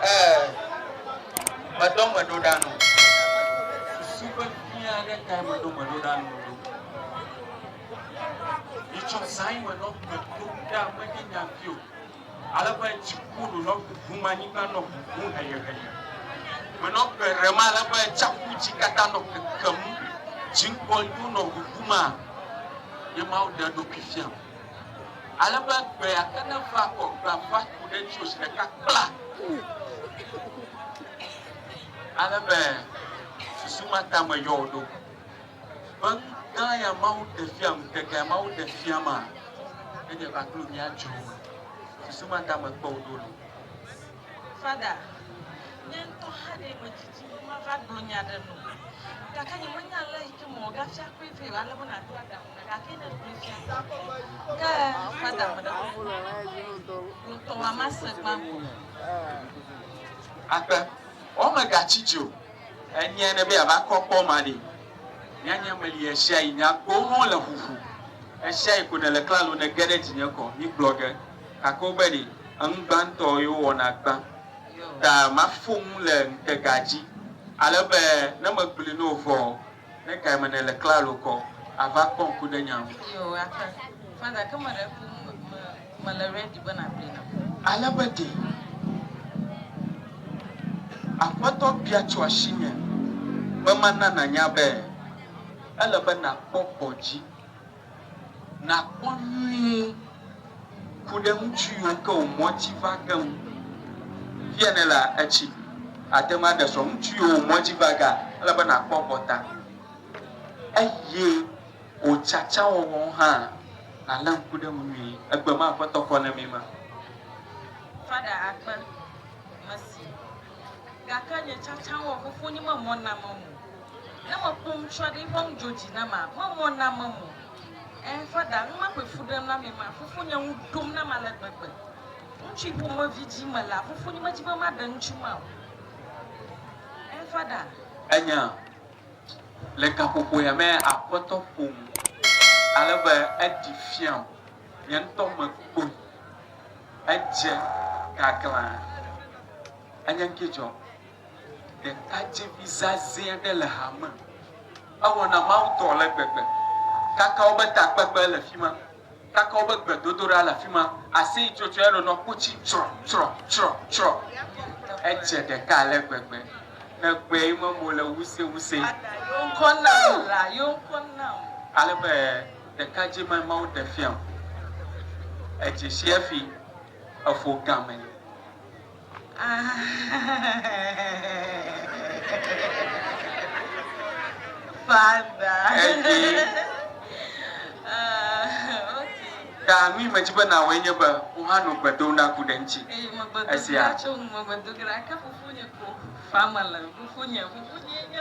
Ee, meɖo gbeɖoɖa nu. Susu vevi aɖe tae meɖo gbeɖoɖa nu ɖo. Mitsɔ zã ɣi menɔ gbe dom ɖa menye nya vi o. Ale be dziku nunɔ ʋuʋum, anyigba nɔ ʋuʋum heyeheye. Menɔ gbe ɖem ale be tsaƒu dzi katã nɔ kekem. Dziŋkɔliwo nɔ ʋuʋum a, ye Mawu ɖe eɖokui fiam. Ale be gbe ate ne va kɔ gbea va ku ɖe ŋutsu zi ɖeka kpla. Ale be susu ma ta meyɔ wò ɖo. Be nu gã ya Mawu ɖe fia, ŋutega ya Mawu ɖe fia ma, enye va kplu mía dzro me. Susu ma ta mekpe wò ɖo lo. Fada, nye ŋutɔ hã ɖee medzi. Di be mava gblɔ nya aɖe nɔ wò, gake nyemenya ale yi ke me wòagafia kpɔe vɛ o, ale be nàɖo aɖaŋu nam. Gake ne ègblɔe fia la, ke fada ame ɖe kpɔ ƒo na wò ŋutɔ wò amase gbãtɔ. Akpe, Wò megatsi dzi o. Enye ne be yeava kɔ kpɔ ma ɖe, nyanya meli ɣesiaɣi, nye agbowo hã wole ƒuƒu. Ɣesiaɣi ko nèle klalo nège ɖe dzinye kɔ. Migblɔ ge, gake wobe ɖe, enu gbãtɔ ye wowɔna gbã. ta maƒo nu le ŋutega dzi, ale be ne megblɔe na wò vɔ, ne gae me nèle klalo kɔ ava kpɔ ŋku ɖe nya ŋu? Ale be ɖe Aƒetɔ bia tso asinye be mana nànya be ele be nàkpɔ gbɔdzi. Nàkpɔ nyuie, ku ɖe ŋutsu yiwo ke wò mɔ dzi va ge ŋu. Fia ne la, etsi ate ŋu aɖe srɔ̃ ŋutsu yiwo wò mɔ dzi va gea, ele be nàkpɔ egbɔ ta, eye wò tsatsawɔwɔ hã, nàlé ŋku ɖe eŋu nyuie. Egbe ma Aƒetɔ kɔ na mí ma. Fada akpe, Mesi. Gake nye tsatsa wɔ fofonye memɔ namem o. Ne mekpɔ ŋutsua ɖe eƒe nu dzo dzi nama, memɔ namem o. Ẽ, Fada, nu ma ƒoe fu ɖem na mi ma, fofonye ŋu ɖom nam ale gbegbe. Ŋutsui ƒomevi dzi melea, fofonye medi be maɖe ŋutsu ma o. Ẽ, Fada. Enya, Le gaƒoƒoea me aƒetɔ ƒom ale be eɖi fiam. Nye ŋutɔ mekpɔe, edze gaglã. Enye ŋkee dzɔ. Ɖekadzevi zazɛ̃ aɖe le ha me. Ewɔna mawudɔ ale gbegbe. Kaka wobe takpekpe le fi ma, kaka wobe gbedodoɖa le afi ma, aseyitsotso ya nɔnɔ kpotsi tsrɔ, tsrɔ, tsrɔ, tsrɔ. Edze ɖeka ale gbegbe. Nèkpɔe memo le wusewuse. Ada yewo ŋkɔ nam la, yewo ŋkɔ nam. Ale be Ɖeka dzi me Mawu ɖe fia o. Edzi si efi efo gã me. Fada. Edzi. Ka nui me dzi be na woe nye be wo hã no gbe dom ɖa ku ɖe ŋtsi. Eye me gbe do gla tso ŋu me gbe do gla ke fofonye ko. Fa me le fofonye fofonye nye.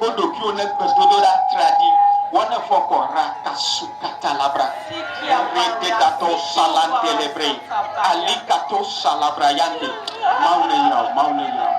Wo ɖokuiwo ne gbedodoɖa tradi wɔ ne fɔ kɔ ra ka su ka ta labra ŋre de da tɔ sala ŋde le bre ali ka to sala bra ya ŋde. Mawu ne yra wo, Mawu ne yra wo.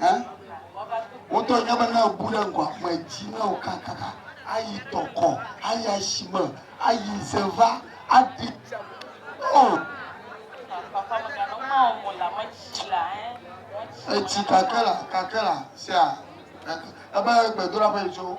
Ɛ? Wotɔe nye be ne èbu ɖe ŋgɔ ame dzi ne wòkakaka ayi tɔkɔ, ayi asime, ayi ze va, aɖi tsia me alo ɔ. Etsi kake la, kake la, sea, kake. Ebe gbedoɖaƒe tso.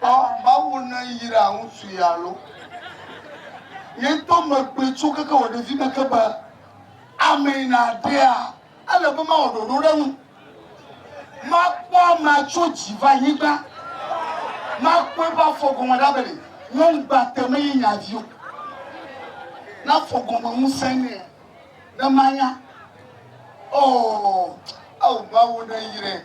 Kpɔ, Mawu neyra ŋutsu ye alo? Nye ŋutɔ megblɔe tso keke wò ɖevime ke be, Amee nàɖea, ele be mawɔ ɖoɖo ɖe eŋu. Makpɔ amea tso dzi va anyigba, makpɔ eƒe afɔ gɔme ɖa be ɖe nyɔnugbate menye nye avi o. Ne afɔ gɔme ŋusẽ nɛ, ne manya. Oo, ao Mawu neyrae.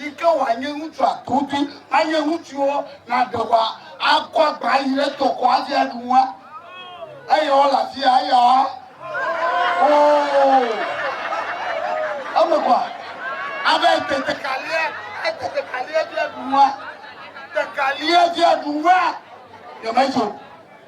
Yi ke wòanye ŋutsua tutu anye ŋutsuwo naɖe wa akɔ agba ayi ɖe tɔkɔ avi aɖu nua. Eye wole afi ya aya. Oo. Eme kɔa. Abe te tekalia, ete tekalia vi aɖu nua. Tekalia vi aɖu nua. Yemedzo.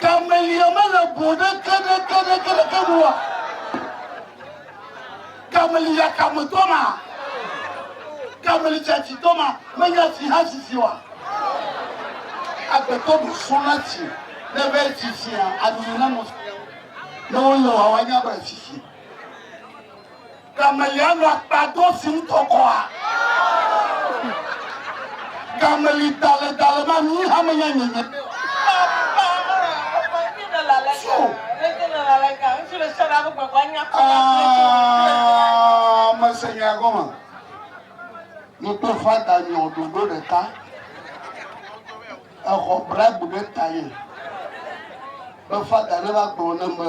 Gamelia mele go ɖeke ɖeke ɖeke ɖeke nu oa? Gamelia kame tɔ ma? Gameli tsatsi tɔ ma? Menya tsi ha sisi oa? Agbetɔ ɖo sɔ na tsi ne be tsitsia anyi na nɔ ne wole wawa nya be sisi. Gamelia nɔ akpa do si ŋutɔ kɔa? Gameli dale dale ma mi hame nya nye nye. Mese nya gɔme. Ni kple fada nyɔ ɖoɖo ɖeka. Exɔ bragbe ɖe ta ye. Be fada ne va gblɔ ne be.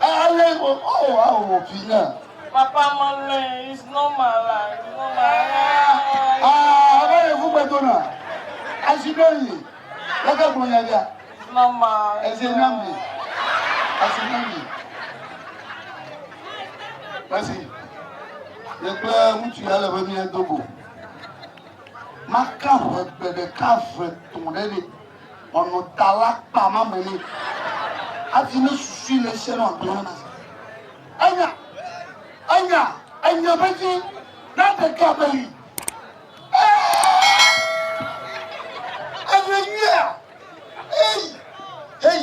Alé mo oh ao mo pi na. Papa ma lè is normal la is normal. Ah, ɔbɛ yɛ fún gbɛdo na. Asi bɛ yi. Lɛkɛ gbɔ nya bia. Is normal. Ɛsɛ nya mi. Asi nya mi. Ɛsi. Yɛ kple ŋutsu ya le be mi yɛ dogo. Maka ʋe gbe ɖeka ʋe tɔn ɖe ɖe. Ɔnɔ ta la kpa ma me nɛ hafi ne susui le sia nɔ agblɔ na. Enya, enya, enya vevie na ɖeka be yi. Enya nyuia, ei, ei.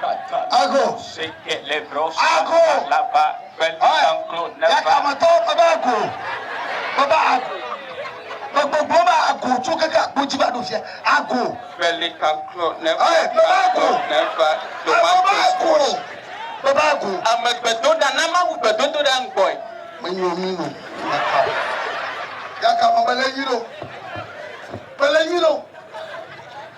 Ago. Ago. Yakametɔwo ƒe be ago. Ƒe be ago. Ƒe gbogbo be ago tso keke akpo dzi va ɖo fia. Ago. Ƒe be ago. Ago be ago. Ƒe be ago. Ame gbedoɖa na Mawu gbedodoɖa ŋgbɔe. Menyo mi no. Yakame be le nyi ɖo. Be le nyi ɖo.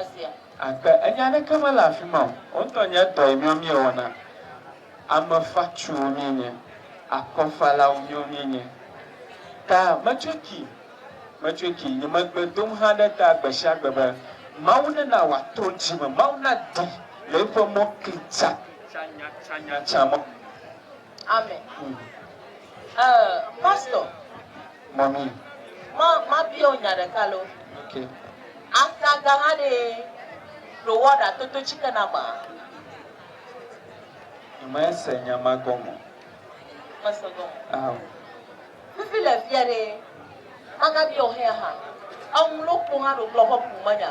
esia. Akpe, enye aɖeke mele afima o, wo ŋutɔ nye dɔ yi míawo míewɔna. Ame fatsuwo míenye, akɔfalawo míawo míenye. Ta metsoki, metsoki, nye megbe dom hã ɖe ta gbesiagbe be, Mawu nena wòatrɔ dzi me, Mawu nadi le eƒe mɔ kli tsa, tsanya, tsanya, tsa mɔ. Amen. Uh, pastor. Mami. Ma, ma bio nya ɖeka lo. Okay. Ata ga ha ɖe ɖo wɔ ɖa toto chike na ma. Nyama se nya ma gɔmɔ. Ma se gɔmɔ. Ah. Fifi le fia ɖe. Ma ga bio hɛ ha. Aŋlo kpo ha ɖo kplɔ kɔ kuma nya.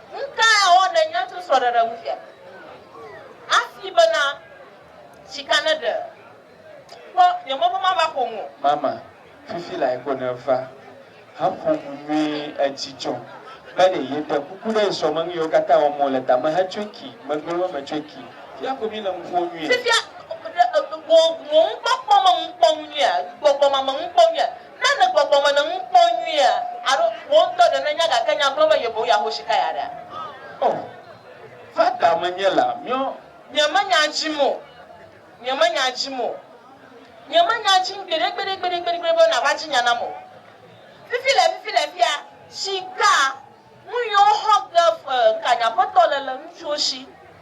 Nu ka awɔ nènya tso srɔ̃ɖeɖe ŋu fia? Afi bena, Sika ne ɖe. Kpɔ, nye mɔ be mava ƒo nu o. Mama, fifi lae ko nèva haƒo nu nyuie. Edzidzɔ be ɖe yeɖe kuku ɖe esrɔ̃ me nu yiwo katã wɔm wòle tame hetsɔe ki megbe be metsɔe ki. Fifia ko míle nu ƒom nyuie. Fifia, ɖe wò nukpɔkpɔ me nukpɔnu nyuie? Gbɔgbɔmame nukpɔnu nyuie? Ne le gbɔgbɔ me le nu kpɔm nyuie alo wò ŋutɔ ɖe nènya gake nya gblɔm eye boŋ yeaho sikaya ɖea? O, va da menye la miɔ. Nyemenya edzim o, nyemenya edzim o, nyemenya edzim gbeɖegbeɖegbeɖegbeɖe be nàva dzi nya nam o. Fifi le fifi le fia, sika, nu yi woxɔ ge ŋkanyaƒetɔ le le ŋutsuwo si.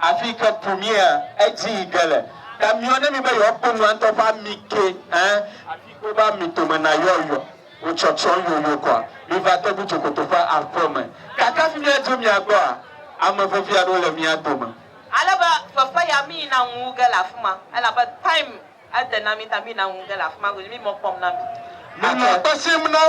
Afi ke bu mía edzi yi ge le. Ta miɔ ne mi be yewoa kpɔ nua ŋutɔ ƒe ami ke hã afi ke wobe ami tome na yɔ yɔ wo tsɔtsɔn yo yo kɔa. Mi va te gu dzokoto ƒe aƒe me. Gake afi mía dzo mía gbɔa, ame vevi aɖewo le mía dome. Ale be fefe ya mi yina ŋu wu ge le afi ma, elabe time ede na mi ta mi yina ŋu ge le afi ma godzi mi mɔ kpɔm na mi. Mi nɔ akpe sim na wo.